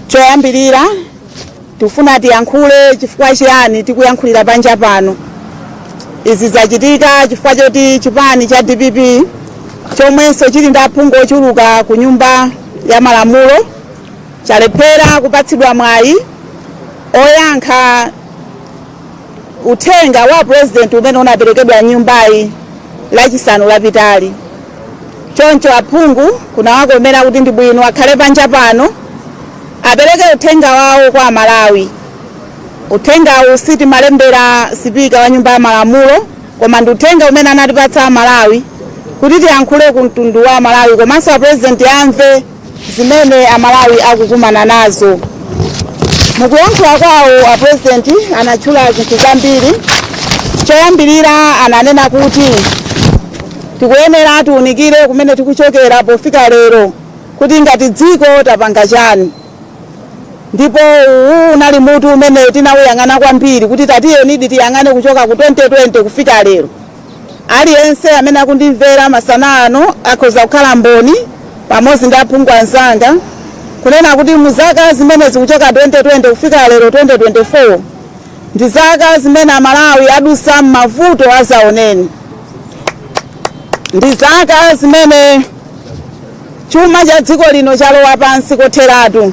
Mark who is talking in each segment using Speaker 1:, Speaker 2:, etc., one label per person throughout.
Speaker 1: Choyambirira tikufuna tiyankhule chifukwa chiyani tikuyankhulira panja pano. Izi zachitika chifukwa choti chipani cha DPP chomwenso chili ndi aphungu ochuluka ku nyumba ya malamulo chalephera kupatsidwa mwayi oyankha Uthenga wa apresident umene unaperekedwa m'nyumbayi lachisanu lapitali choncho aphungu kunawakomera kuti ndi bwino akhale panja pano apereke uthenga wawo kwa amalawi uthengawu sitimalembera sipika wa nyumba ya malamulo koma ndi uthenga umene anatipatsa amalawi kuti tiyankhule ku mtundu wa amalawi komanso apurezidenti amve zimene amalawi akukumana nazo mukuyankhula kwawo a president anatchula zinthu zambiri choyambirira ananena kuti tikuyenera tiunikire kumene tikuchokera pofika lero kuti ngati dziko tapanga chani ndipo uwu unali mutu umene tinawuyang'ana kwambiri kuti tatiyenidi tiyang'ane kuchoka ku 2020 kufika lero Aliyense amene akundimvera masana ano akhoza kukhala mboni pamodzi ndi aphungu anzanga kunena kuti mu zaka zimenezi kuchoka 2020 kufika lero 2024 ndi zaka zimene Amalawi adusa m'mavuto azaoneni, ndi zaka zimene chuma cha dziko lino chalowa pansi kotheratu,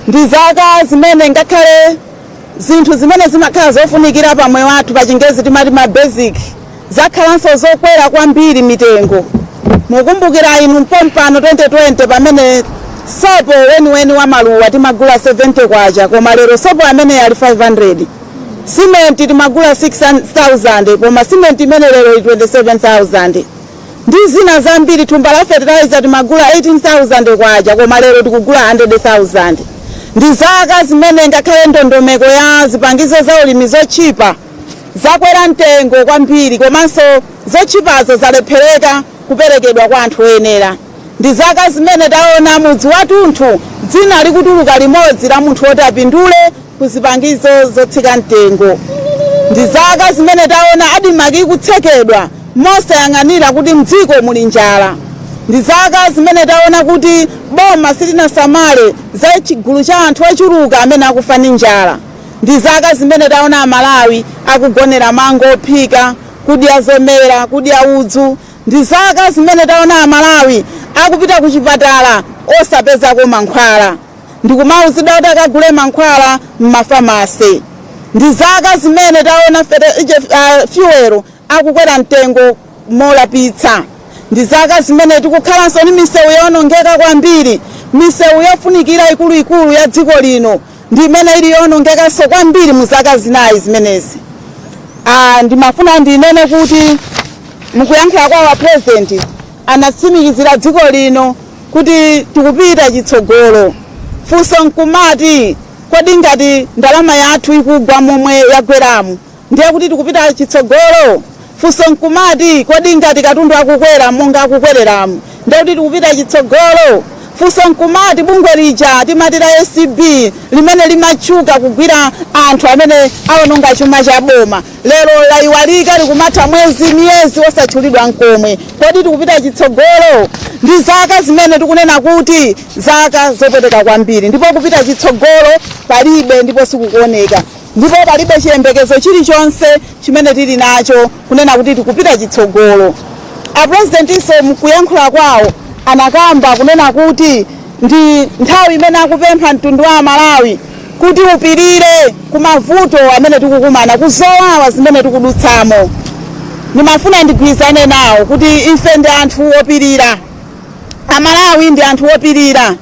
Speaker 1: ndi zaka zimene ngakhale Zinthu zimene zimakhala zofunikira pa moyo wathu pachingezi timati ma basic zakhalanso zokwera kwambiri mitengo. Mukumbukira inu mpompano 2020 pamene sopo weniweni wa maluwa timagula 70 kwacha koma lero sopo ameneyu ali 500. Simenti timagula 6000 koma simenti imeneyi lero ili 27000. ndi zina zambiri. Thumba la fertilizer timagula 18,000 kwacha koma lero tikugula 100,000. Ndi zaka zimene ngakhale ndondomeko ya zipangizo za ulimi zotchipa zakwera mtengo kwambiri komanso zotchipazo zalephereka kuperekedwa kwa anthu oyenera. Ndi zaka zimene taona mudzi wathunthu dzina likutuluka limodzi la munthu woti apindule ku zipangizo zotsika mtengo. Ndi zaka zimene taona Admarc ikutsekedwa mosayang'anira kuti m'dziko muli njala. Ndi zaka zimene taona kuti boma silinasamale za chigulu cha anthu ochuluka amene akufa ndi njala. Ndi zaka zimene taona Amalawi akugonera mango ophika, kudya zomera, kudya udzu, Ndi zaka zimene taona a Malawi akupita ku chipatala osapezako mankhwala ndikumauzidwa kuti akagule mankhwala m'ma pharmacy. Ndi zaka zimene taona fuel akukwera mtengo molapitsa. Ndi zaka zimene tikukhalanso ndi misewu yoonongeka kwambiri, misewu yofunikira ikuluikulu ya dziko lino ndi imene ili yoonongekanso kwambiri mu zaka zinayi zimenezi. Ah, ndimafuna ndinene kuti mukuyankhula kwa a president anatsimikizira dziko lino kuti tikupita chitsogolo. Funso nkumati kodi ngati ndalama yathu ikugwa momwe yagweramu Ndiye kuti tikupita chitsogolo? Funso nkumati, kodi ngati katundu akukwera monga akukwereramu, ndiye kuti tikupita chitsogolo? Funso nkumati, bungwe lija timati la acb limene limatchuka kugwira anthu amene awononga chuma cha boma, lero laiwalika likumatha mwezi, miyezi osatchulidwa nkomwe. Kodi tikupita chitsogolo? Ndi zaka zimene tikunena kuti zaka zopweteka kwambiri ndipo kupita chitsogolo palibe ndipo sikukuoneka. Ndipo palibe chiyembekezo chilichonse chimene tili nacho kunena kuti tikupita chitsogolo. A Presidentinso mukuyankhula kwawo anakamba kunena kuti ndi nthawi imene akupempha mtundu wa Amalawi kuti upirire ku mavuto amene tikukumana, ku zowawa zimene tikudutsamo. Ndimafuna ndigwirizane nawo kuti ife ndi anthu opirira. Amalawi ndi anthu opirira.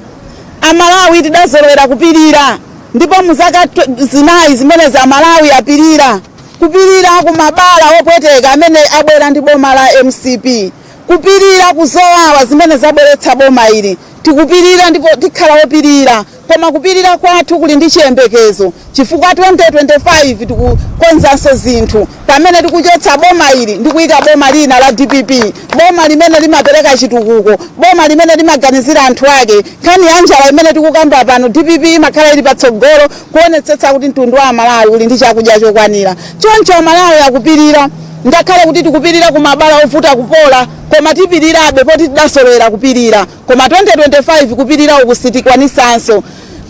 Speaker 1: Amalawi tidazolowera kupirira. Ndipo mu zaka zinayi zimenezi Amalawi apirira, kupirira ku mabala opweteka amene abwera ndi boma la mcp, kupirira ku zowawa zimene zabweretsa boma ili. Tikupirira ndipo tikhala opirira, koma kupirira kwathu kuli ndi chiyembekezo chifukwa 2025 tikukonzanso zinthu. Pamene tikuchotsa boma ili ndi kuika boma lina la dpp, boma limene limapereka chitukuko, boma limene limaganizira anthu ake, nkhani ya njala imene tikukamba pano dpp imakhala ili patsogolo kuonetsetsa kuti mtundu wa Amalawi uli ndi chakudya chokwanira. Choncho Amalawi akupirira ngakhale kuti tikupirira ku mabala ovuta kupola koma tipirirabe poti tidazolowera kupirira koma 2025 kupirira uku sitikwanitsanso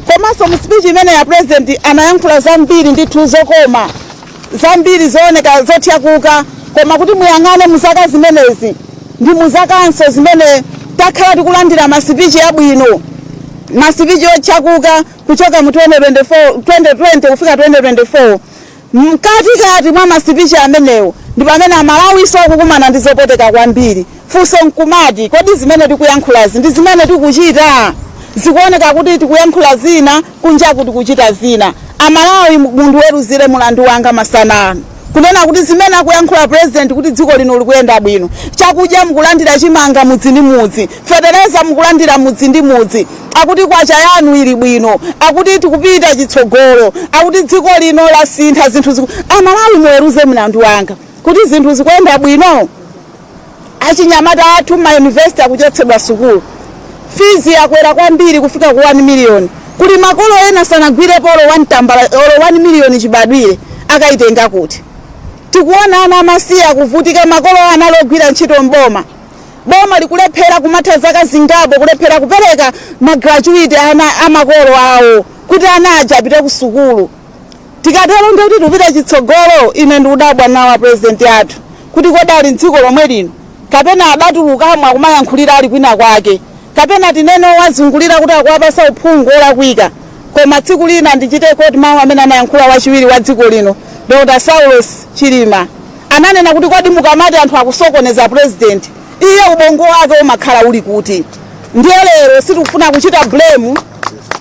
Speaker 1: komanso mu speech imene ya president anayankhula zambiri ndithu zokoma zambiri zooneka zothyakuka koma kuti muyang'ane mu zaka zimenezi ndi mu zakanso zimene takhala tikulandira masipichi abwino masipichi othyakuka kuchoka mu 2024 2020 kufika 2024 mkatikati mwa masipichi amenewo ndi pamene amalawinso akukumana ndi zopweteka kwambiri funso nkumati kodi zimene tikuyankhulazi ndi zimene tikuchita zikuoneka kuti tikuyankhula zina Kunjaku tikuchita zina. A Malawi mundiweruzire mulandu wanga masana ano. Kunena kuti zimene akuyankhula president kuti dziko lino likuyenda bwino. Chakudya mukulandira chimanga mudzi ndi mudzi. Fetereza mukulandira mudzi ndi mudzi. Akuti kwacha yanu ili bwino. Akuti tikupita chitsogolo. Akuti dziko lino lasintha zinthu. A Malawi muweruze mlandu wanga kuti zinthu zikuyenda bwino. Achinyamata athu mma university akuchotsedwa sukulu, fees yakwera kwambiri kufika ku 1 million, kuli makolo ena sanagwirepo olo 1 tambala olo 1 million chibadwire akayitenga kuti? Tikuona ana amasiye akuvutika makolo awo anali ogwira ntchito m'boma, boma likulephera kumatha zaka zingapo kulephera kupereka ma gratuity amakolo awo kuti ana aja apite ku sukulu. Tikatero ndiye kuti tikupita chitsogolo. Ine ndikudabwa nawo a President athu kuti kodi ali m'dziko lomwe lino kapena adatulukamo akumayankhulira ali kwina kwake kapena tinene owazungulira kuti akuwapasa uphungu olakwika. Koma tsiku lina ndichite quote mawu amene anayankhula wachiwiri wa dziko lino Dr Saulos Chilima. Ananena kuti kodi mukamati anthu akusokoneza President, iye ubongo wake umakhala uli kuti? Ndiye lero sitikufuna kuchita blame.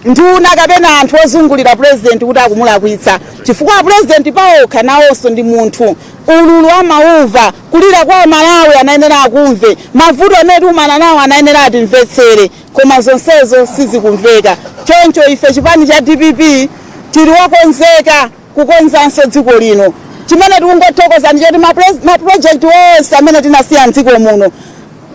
Speaker 1: nduna kapena anthu ozungulira purezidenti kuti akumulakwitsa chifukwa apurezidenti paokha nawonso ndi munthu ululu amaumva kulira kwa amalawi anayenera akumve mavuto amene tikumana nawo anayenera atimvetsere koma zonsezo sizikumveka choncho ife chipani cha dpp tili wokonzeka kukonzanso dziko lino chimene tikungothokoza ndi choti mapulojekiti onse amene tinasiya mdziko muno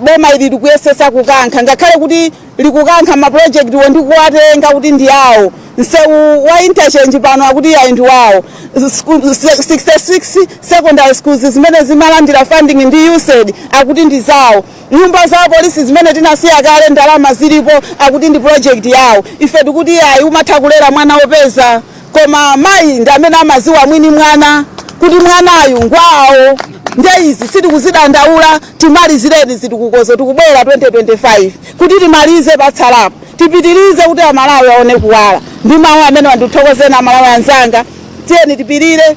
Speaker 1: boma ili likuyesesa kukankha ngakhale kuti likukankha mapulojekitiwo ndi kuwatenga kuti ndi awo msewu wa interchange pano akuti yayi ndi wawo 66 secondary schools zimene zimalandira funding ndi usaid akuti ndi zawo nyumba za polisi zimene tinasiya kale ndalama zilipo akuti ndi project yawo ife tikuti yayi umatha kulera mwana wopeza koma mayi ndi amene amaziwa mwini mwana kuti mwanayu ngwawo nde izi sitikuzidandaula timalizireni zitukukozo tikubwera 2025 kuti timalize patsalapo tipitirize kuti amalawi aone kuwala ndi mawu amene wa ndikuthokozani amalawi anzanga tiyeni tipirire